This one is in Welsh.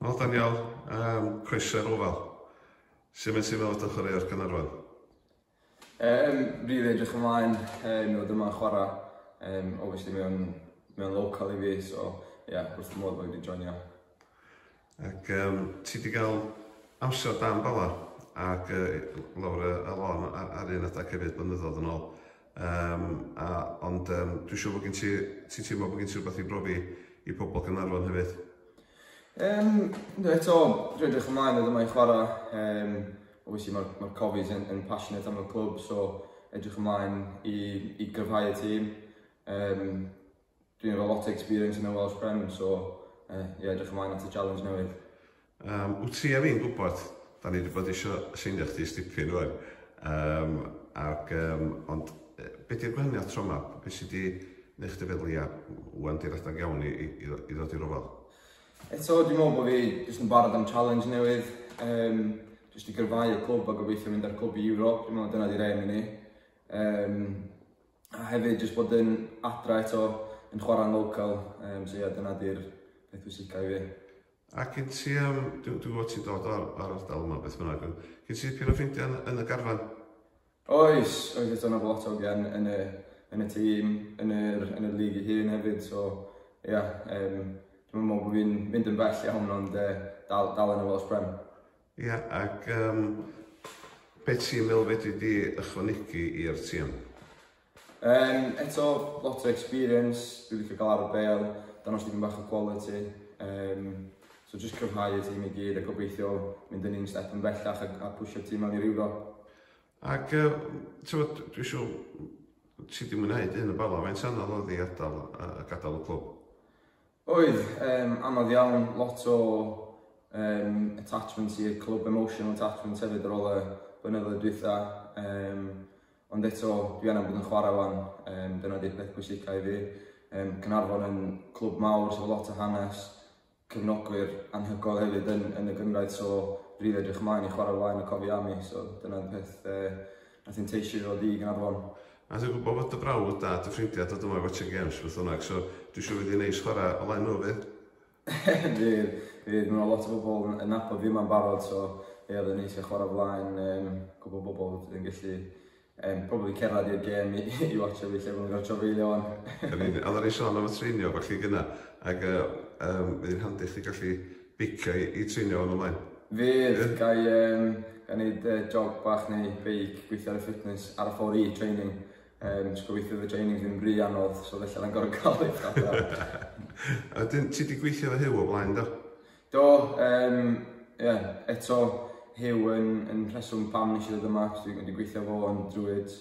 Wel, Daniel, um, croeso i'r ofal. Sut mae'n teimlo fod ochr ar Canarfon? Yym rili edrych ymlaen yym i fod yma a chwara yym obviously mae o'n mae o'n local i fi so ia wrth fy modd bo fi wedi joinio. Ac yym ti wedi cael amser da yn Bala ac yy lawr y y lôn ar ar un adeg hefyd blynyddoedd yn ôl yym a ond yym dwi'n siŵr bod gen ti ti'n teimlo bod gen ti rywbeth i brofi i pobl Gaernarfon hefyd? Yym yndw eto dwi'n edrych ymlaen i fod yma i chwara yym Obviously mae'r ma Cofies yn, yn passionate am y clwb, so edrych ymlaen i, i gryfhau y tîm. Um, dwi'n efo lot o experience yn y Welsh Prem, so uh, yeah, edrych ymlaen at y challenge newydd. Um, wyt ti a fi'n gwybod, da ni wedi bod eisiau seinio chdi stipyn rwan. Um, ac, um, ond beth yw'r gwahaniaeth tro yma? Beth sydd wedi gwneud chdi feddwl, ia, wan di'r adag iawn i, i, i ddod i'r ofal? Eto, dwi'n meddwl bod fi jyst yn barod am challenge newydd, um, jyst i gyrfau y clwb a gobeithio mynd â'r clwb i Ewrop, dwi'n meddwl dyna di'r aim i ni. Um, a hefyd jyst bod yn adra eto yn chwarae'n local, um, so ia, dyna di'r peth pwysicau i fi. A cyn ti, um, dwi'n dwi gwybod ti'n dod o'r, or ardal yma beth bynnag, cyn ti pyn o ffrindiau yn, yn y garfan? Oes, oes eto na lot o ogian yn y yn y tîm, yn yr yn y lig ei hun hefyd, so ia yym dwi'm yn meddwl bod fi'n mynd yn bell iawn ond yy dal dal yn y Welsh Prem. Ia ac yym be ti'n meddwl fedri di ychwanegu i'r tîm? Yym, eto, lot o experience, dwi'n licio gael ar y bel, danos dipyn bach o quality. Um, so just cryfhau y tîm i gyd a gobeithio mynd yn un step yn bellach a, a pwysio'r tîm mewn i'r euro. Ac, uh, tywed, dwi'n siw, ti di mwynhau dyn y bala, mae'n anodd oedd i adael, uh, gadael y clwb? Oedd, yym, anodd iawn, lot o yym attachments i'r clwb, emotional attachments hefyd ar ôl y blynyddoedd dwytha, yym, ond eto dwi angen bod yn chwarae wan, yym, dyna di'r peth pwysica i fi, yym, Caernarfon yn clwb mawr sydd efo lot o hanes, cefnogwyr anhygoel hefyd yn yn y gynradd so rili edrych ymlaen i chwarae flaen y cofiau am i so dyna'r peth yy A ti'n teisio i ddod i Gaernarfon? A dwi'n gwybod fod dy brawd a dy ffrindiau'n dod yma i watsio gêms beth bynnag, so dwi'n siŵr fydd hi'n neis chwarae o flaen nhw, fydd? Fydd, fydd. Mae 'na lot o bobl yn nabod fi yma'n barod, so ie, oedd o'n neis cael chwarae o flaen yym cwpl o bobl wedyn gallu yym probably cerdded i'r gêm i i watsio fi lle bod nhw'n cael trafeilio 'wan. Yn union. Oeddan ni'n sôn am y treinio a ballu gynna, ac yy yym fydd hi'n handi chdi gallu beiciau i treinio yn y Maen? Fydd, ga i yym ga i neud yy jog bach neu beic, gweithio ar y fitness ar y ffor i training, yym so gobeithio fydd y training ddim ry anodd so falla na'i'm gor'o' ca'l lift adra. A wedyn ti 'di gweithio efo Huw o blaen do? Do yym ie eto Huw yn yn rheswm pam nes i ddod yma achos dwi wedi gweithio efo fo yn Druids